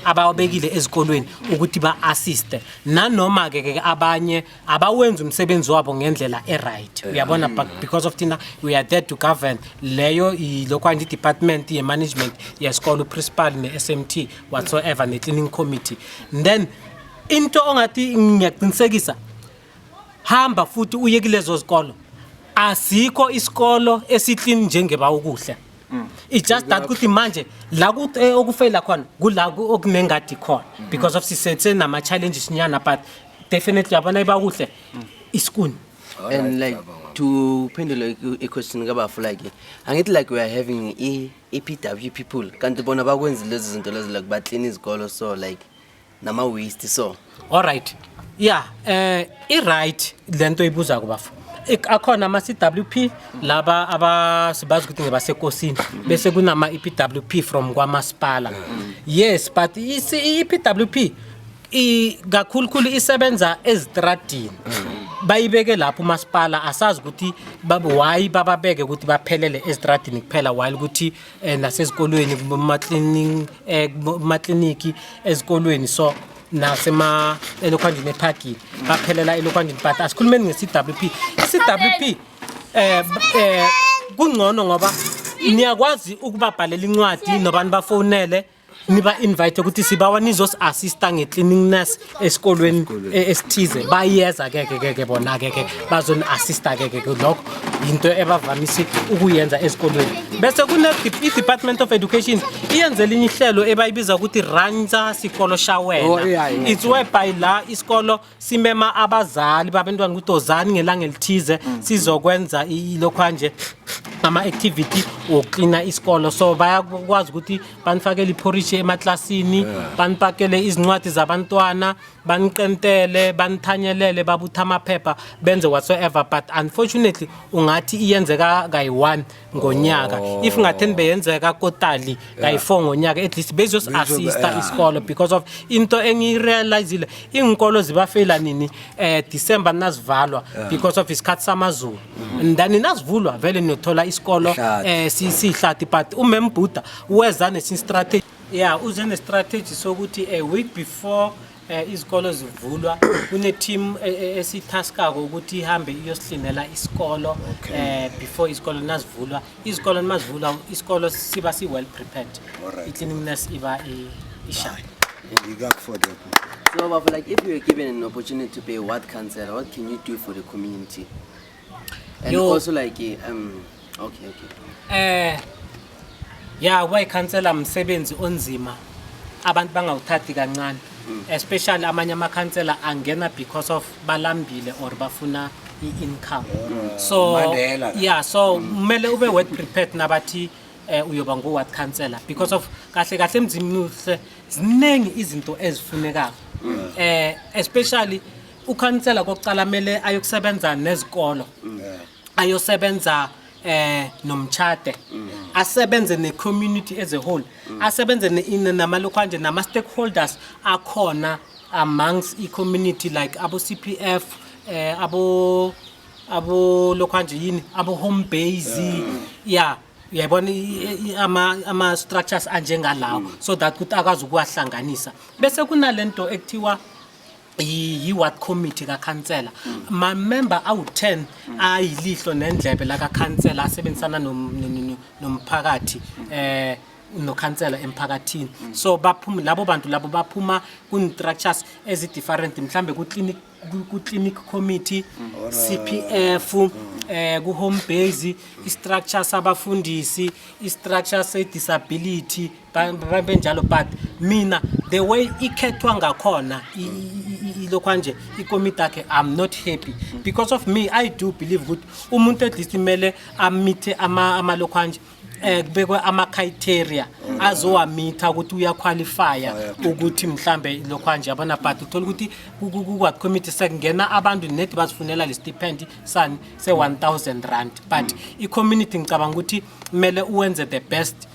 abawabekile ezikolweni ukuthi ba-assiste nanoma-ke ke abanye abawenzi umsebenzi wabo ngendlela e-right uyabona but because of thina we are there to govern leyo yilokwani i-department ye-management yesikole uprincipal ne-s m t whatsoever ne-cleaning committee then into ongathi ngiyaqinisekisa hamba futhi uye kulezo zikolo asikho isikolo esiklini njengeba ukuhle mm. it's just that ukuthi manje la eh, okufeyila khona kula okunengadi khona mm-hmm. because of sisethe nama challenges nyana but definitely yabona ibakuhle mm. isikuni and like to phendula iquestion kabafu like angithi like we are having i-pw people kanti bona bakwenzi lezi zinto lezi like baklina izikolo so like nama waste so all right yeah eh i right lento ibuza kubafo akhona ama CWP laba abasibazi ukuthi ngebasekosini bese kunama EPWP from kwamasipala yes but iPWP i kakhulukhulu isebenza ezitradini bayibeke lapho umasipala asazi ukuthi why bababeke ukuthi baphelele ezitradini kuphela while ukuthi eh, nasezikolweni kumakliniki eh, ezikolweni so nasema elokhwanjini ephagini baphelela elokhwanjini but asikhulumeni nge-cwp i-cwp eh, eh kungcono ngoba niyakwazi ukubabhalela incwadi nobani bafonele niba-invite ukuthi sibawa nizos-assista nge-cleaning nurse esikolweni e-, esithize bayeza keke keke bona keke bazoni-assista keke lokho yinto ebavamise ukuyenza ezikolweni bese kune-department of education iyenze elinye ihlelo ebayibiza ukuthi ransa sikolo shawena oh, it's whereby la isikolo simema abazali babantwana ukuthi ozani ngelanga elithize mm. sizokwenza lokho anje ngama-activity wokuklina isikolo so bayakwazi ukuthi banifakele iphorishi emaklasini banipakele izincwadi zabantwana baniqentele banithanyelele babutha amaphepha benze whatsoever but unfortunately ungathi iyenzeka kayi-one ngonyaka oh. if ngatheni beyenzeka kotali kayi-four ngonyaka at least bezosi-assista yeah. isikolo because of into engiyirealizile iy'nkolo zibafeyila nini um december ninazivalwa yeah. because of isikhathi samazulu mm -hmm. then ninazivulwa vele niyothola isikolo um eh, siyihlathi but umembhuda weza nesinye strategy ya yeah, uze nestrategy sokuthi a week before Eh, izikolo zivulwa kune-team eh, eh, esithaskako ukuthi ihambe iyosihlinela isikolo um before isikolo nazivulwa izikolo nimazivulwa isikolo siba si-well prepared i-cleanliness iba ishaya So, Baba, like if you were given an opportunity to be a ward councillor, what can you do for the community? And Yo. also like eh, um okay okay. eh ya kuba ikhansela msebenzi onzima abantu bangawuthathi kancane Mm. especially amanye amakhansela angena because of balambile or bafuna i-income Mm. so Mandela. yeah so Mm. kumele ube word prepared nabathi eh uyoba ngu-ward councillor because of kahle kahle emzimini uhle ziningi izinto ezifunekayo Mm. eh especially ukhansela kokuqala kumele ayokusebenza nezikolo ayosebenza eh nomtshade asebenze ne community as a whole asebenze ne- in- nama local nje nama stakeholders akhona amongst i community like abo CPF eh abo abo local nje yini abo home base yeah uyayibona i- i- ama ama structures anjengalawo so that ukuthi akwazi ukuwahlanganisa bese kunalento ekuthiwa yi-ward committee kakhansela mamemba awu-10 ayilihlo nendlebe lakakhansela asebenzisana nom- no- no- no- nomphakathi eh nokhansela emphakathini so baphuma labo bantu labo baphuma kun-structures ezi-different mhlambe ku-clinic ku- ku-clinic committee cpf eh ku-home base i-structure sabafundisi i-structure se-disability benjalo but mina the way ikhethwa ngakhona ilokhwa nje ikomiti akhe i'm not happy because of me i do believe ukuthi umuntu at least kumele amithe amalokhwa nje um kubekwe ama-criteria azowamitha ukuthi uyakhwalifya ukuthi mhlambe lokhwa nje yabona but uthole ukuthi ku-what committee sekungena abantu nedi bazifunela le stipend sani se-1000 rand but i-community ngicabanga ukuthi kumele uwenze the best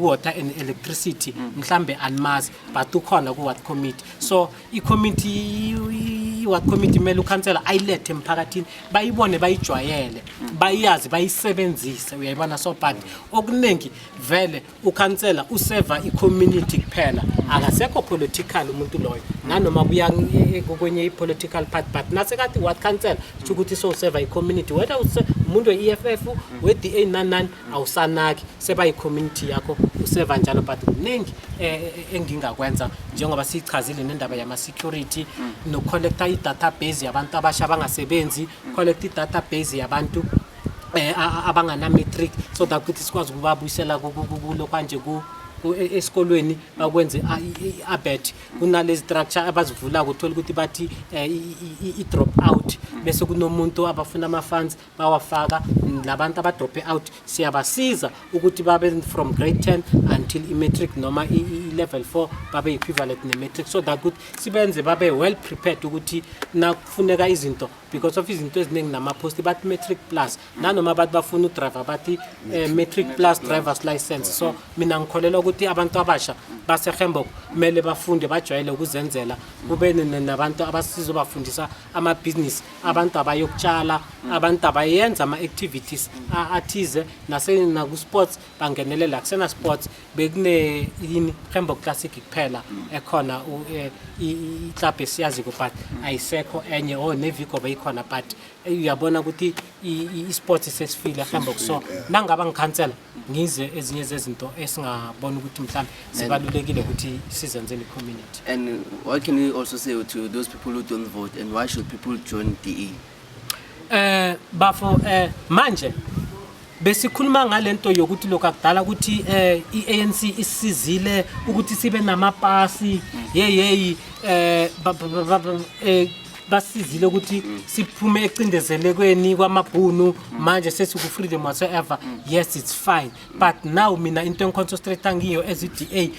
water and electricity mm. mhlambe animazi but ukhona ku-ward committee so icommittee i-ward committee kumele ukhansela ayilethe emphakathini bayibone bayijwayele mm. bayazi bayisebenzise uyayibona so but okuningi vele ukhansela useva i-community kuphela akasekho political umuntu loyo nanoma kuya e, e, kwenye i-political part but nasekati ward council sho ukuthi sowuseva i-community whether umuntu we-eff we-da nanani awusanaki seba yi-community yakho useva njalo but kuningi eh, eh, eh, engingakwenza njengoba siyichazile nendaba yama-security mm. nokucollecta i-database yabantu abasha abangasebenzi mm. collecta i-database yabantu eh abangana-matric so that ukuthi sikwazi ukubabuyisela kulo kwanje ku e, esikolweni bakwenze i-abet kunalezi structure abazivulako uthole ukuthi bathi i-drop out bese kunomuntu abafuna ama-funds bawafaka labantu abadrope out siyabasiza ukuthi babe from grade 10 until i-matric noma i-level 4 babe equivalent ne-matric so that ukuthi sibenze babe well prepared ukuthi nakufuneka izinto because of izinto eziningi namaphosti bathi matric plus nanoma abantu bafuna udriver bathi eh, matric plus drivers license so mina ngikholelwa ukuthi abantu abasha basehembok kumele bafunde bajwayele ukuzenzela kube nabantu abasizobafundisa amabhizinisi abantu abayokutshala abantu abayenza ama-activities a- athize nase- naku-sports bangenelela kusena-sports bekune yini hembo classic kuphela ekhona u- eh, i- i- iklabhu esiyaziko but ayisekho enye o nevigo beyikhona but eh, uyabona ukuthi i- i- i-sports sesifile hembo so nangaba ngikhansela ngizwe ezinye zezinto esingabona ukuthi mhlawumbe zibalulekile ukuthi sizenzele i-community and what can you also say to those people who don't vote and why should people join DE eh bafo eh manje besikhuluma ngalento yokuthi lokho akudala ukuthi eh iANC isizile ukuthi sibe namapasi yeyeyi eh basizile ukuthi siphume ecindezelekweni kwamabhunu manje sesiku-freedom whatsoever yes it's fine but now mina into engiconcentrate ngiyo as i-d a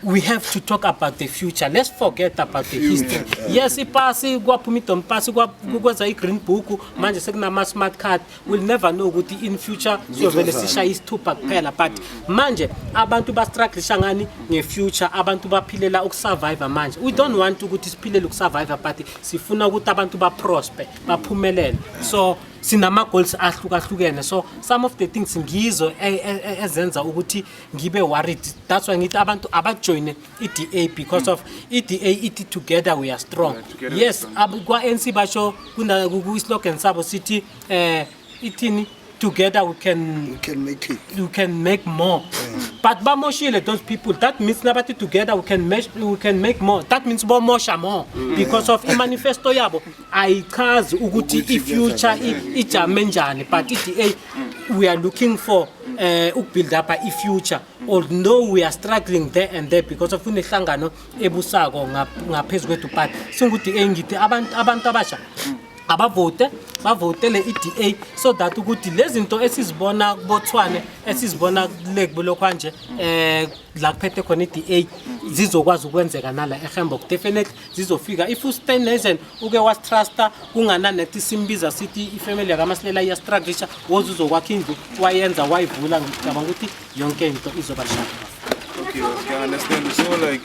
we have to talk about the future let's forget about the history yes ipasi kwaphuma idom pasi kwa- kwenza i-green book manje sekunama-smart card will never know ukuthi in future siyovele sishaye isithupha kuphela but manje abantu bastrugglisha ngani ngefuture abantu baphilela ukusurvive manje we don't want ukuthi siphilele ukusurvive but sifuna ukuthi abantu baprosper baphumelele so sinama goals ahlukahlukene so some of the things ngizo e, e, e, ezenza ukuthi ngibe worried that's why ngithi abantu abajoine i-DA because of i-DA ithi together we are strong yes kwa-ANC basho kwi-slogan sabo sithi um ithini together we can we can make it we can make more mm. but bamoshile those people that means nabathi together we can make we can make more that means bomosha more mm. because of imanifesto yabo ayichazi ukuthi ifuture ijame njani but i-DA we are looking for uh, eh, ukubuild up ifuture although we are struggling there and there because of kunehlangano ebusako ngaphezu kwethu but singu-da ngithi abantu abantu abasha abavote bavotele i-da so that ukuthi lezi zinto esizibona kubothwane esizibona kule kulokhwanje um la kuphethe khona i-da zizokwazi ukwenzeka nala ehembock definitely zizofika if ustanesen uke wastrusta kungananekthi simbiza sithi ifamily yakamasilela iyastruglisha woze uzokwakha indlu wayenza wayivula ngicabanga ukuthi yonke into izoba shaka okay, okay, I understand. So like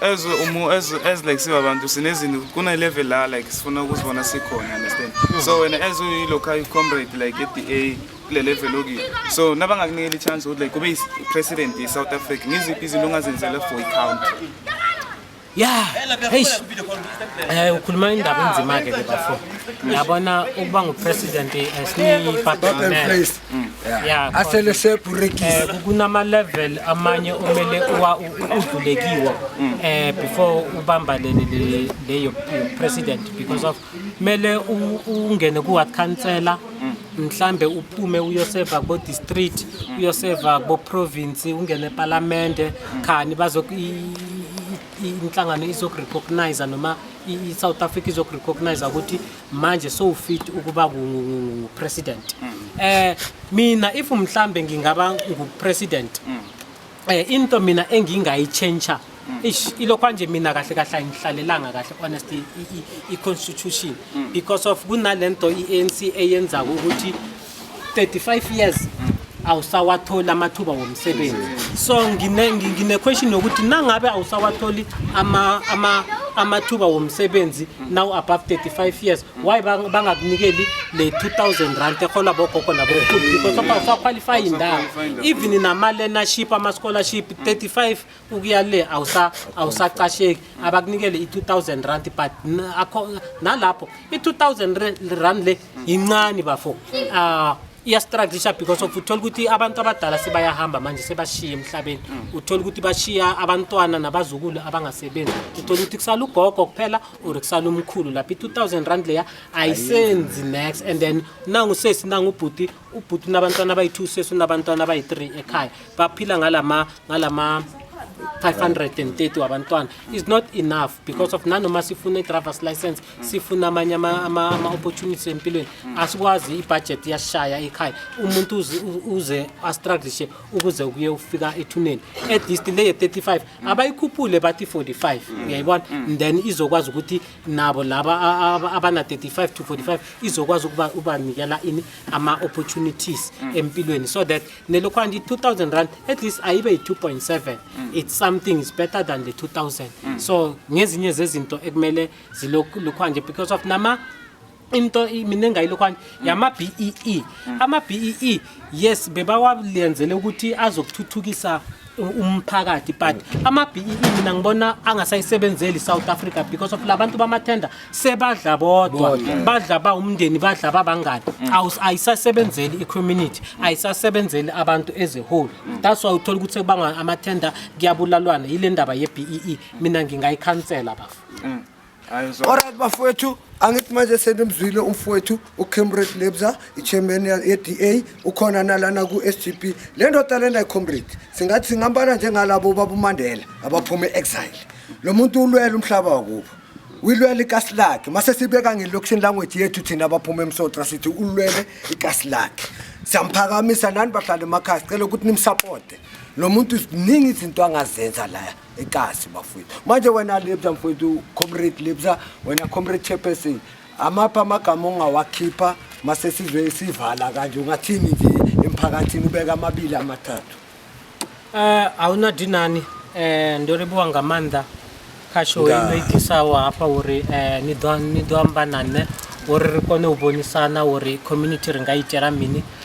as umu as as like siba abantu sinezinto kuna level la like sifuna ukuzibona sikhona understand so wena as uyi local comrade like at the A kule level okuyo so nabangakunikela i-chance ukuthi like ube i-president ye-south africa ngiziphi izinto ongazenzela for i-country ya eish eh ukhuluma indaba enzima ke ke bafo yabona ukuba ngupresident esiniphathele ya asele sebrekile eh, kunama level amanye omele udlulekiwe mm. eh before ubambalele leyo president because of kumele ungene ku-ward councillor mhlambe uphume uyoseva kubo district uyoseva kubo province ungene epalamende khani bazo inhlangano izokurecognize noma i-south africa izokurecognize ukuthi manje sowufit ukuba ngupresident um mina if mhlambe ngingaba ngupresident Eh into mina engingayitshentsha mm. ish ilokho nje mina kahle kahle ayingihlalelanga kahle honestly i constitution mm. because of kunalento iANC eyenza ukuthi 35 years mm. awusawatholi amathuba womsebenzi so ngine ngine question yokuthi nangabe awusawatholi ama ama amathuba womsebenzi now above 35 years why bang- bangakunikeli le 2000 rand ehola bogogo nabokhulu because of awusaqualify indawo even nama-learnership ama-scholarship 35 ukuya le awusa- awusacasheki abakunikele i-2000 rand but n- akho- nalapho i-2000 re- rand le yincane bafo Ah, iyastruglisha because of uthola ukuthi abantu abadala sebayahamba manje sebashiye emhlabeni uthola ukuthi bashiya abantwana nabazukulu abangasebenzi uthola ukuthi kusala ugogo kuphela uri kusala umkhulu lapha i-two thousand rand leya ayisenzi nex and then nangu sesi nangu ubhuti ubhuti unabantwana abayi-two sesi unabantwana abayi-three ekhaya baphila ngalama ngalama 530 wabantwana is not enough because of nanoma sifuna i-drivers license sifuna amanye ama-opportunities empilweni asikwazi ibhajethi yashaya ekhaya umuntu uze astruglishe ukuze kuye ufika ethuneni at least le 35 abayikhuphule bathi 45 uyayibona then izokwazi ukuthi nabo laba a- a- abana 35 to 45 izokwazi ukuba ubanikela ini ama opportunities empilweni so that nelokhwanti 2000 rand at least ayibe yi 2.7 it's something is better than the 2000 so ngezinye zezinto ekumele zilokhwanje because of nama into i- mina engayilokhwani yama-bee ama-bee yes bebawalenzele ukuthi azokuthuthukisa u- umphakathi but ama-bee mina ngibona angasayisebenzeli i-south africa because of la bantu bamathenda sebadla bodwa badla ba umndeni badla babangani Awus- ayisasebenzeli i-community ayisasebenzeli abantu as a whole that's why uthola ukuthi sekubanga amathenda kuyabulalwana yile ndaba ye-bee mina ngingayikhansela bafo Alright bafowethu angithi manje senimzwile umfowethu ucamrade lebza ichairman ye-da ukhona nalana ku-sgp le ndoda lena icomrade singathi singambala njengalabo babumandela abaphuma e-exile lo muntu ulwela umhlaba wakubo uyilwela ikasi lakhe mase sibeka ngelocution language yethu thina abaphuma emsotra sithi ulwele ikasi lakhe siyamphakamisa nani bahlala emakhaya sicela ukuthi nimsapote lo muntu ziningi izinto angazenza laya ekasi bafowethu manje wena lebza mfowethu comrade lebza wena comrade chairperson amaphi amagama ongawakhipha mase sizwe sivala kanje ungathini nje emphakathini ubeka amabili amathathu eh awuna dinani eh ndo ribuwa nga manda khasho ino idisawo hafha uri eh ni ḓo ni ḓo amba na nṋe uri ri kone u vhonisana uri community ri nga itela mini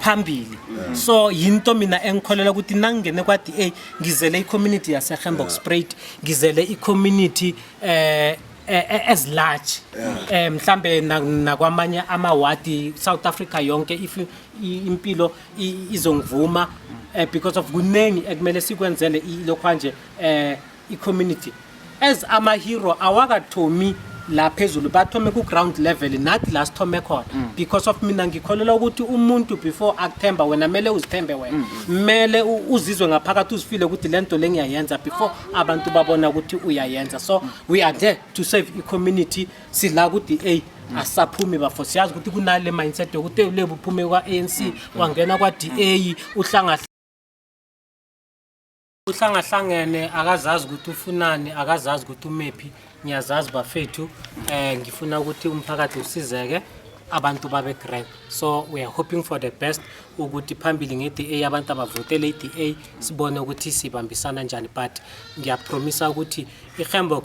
phambili so yinto mina engikholela ukuthi nangingene kwa-da ngizele i-community yasehembox sprait ngizele i-community eh eh, eh, as large eh mhlambe na- nakwamanye amawadi South Africa yonke if i- impilo i- izongivuma eh, because of kuningi ekumele sikwenzele ilokhwanje eh icommunity as amahero awakathomi la phezulu bathome ku-ground level nathi la sithome khona mm. because of mina ngikholelwa ukuthi umuntu before akuthemba wena mele uzithembe wena mm, mm. mele uzizwe ngaphakathi uzifile ukuthi le nto le ngiyayenza before abantu babona ukuthi uyayenza so we are there to save i-community sila ku-d a asaphumi bafo siyazi ukuthi kunale mindset yokuthi ulebu uphume kwa-anc wangena kwa-d a uhlangahla uhlangahlangene akazazi ukuthi ufunani akazazi ukuthi umephi ngiyazazi bafethu um ngifuna ukuthi umphakathi usizeke abantu babe great so we are hoping for the best ukuthi phambili nge-da abantu abavotele i-da sibone ukuthi sibambisana njani but ngiyapromisa ukuthi ihembok